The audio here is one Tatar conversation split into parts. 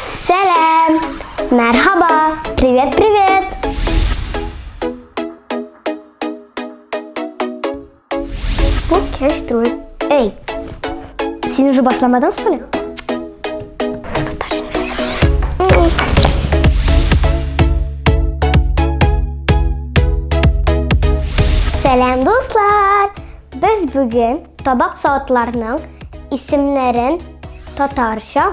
Сәлам! Мәрхаба! Привет, привет! Бу кеш түгел. Эй! Син уже башламадың, что ли? Сәлам, дуслар! Без бүген табак саатларының исемнәрен татарча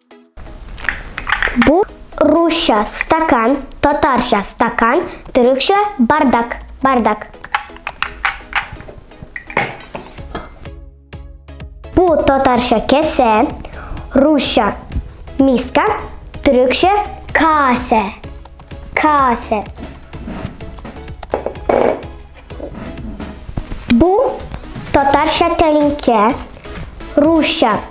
Бу русча стакан, татарча стакан, төрекчә бардак, бардак. Бу татарча кесе, русча миска, төрекчә касе, касе. Бу татарча тәлинкә, русча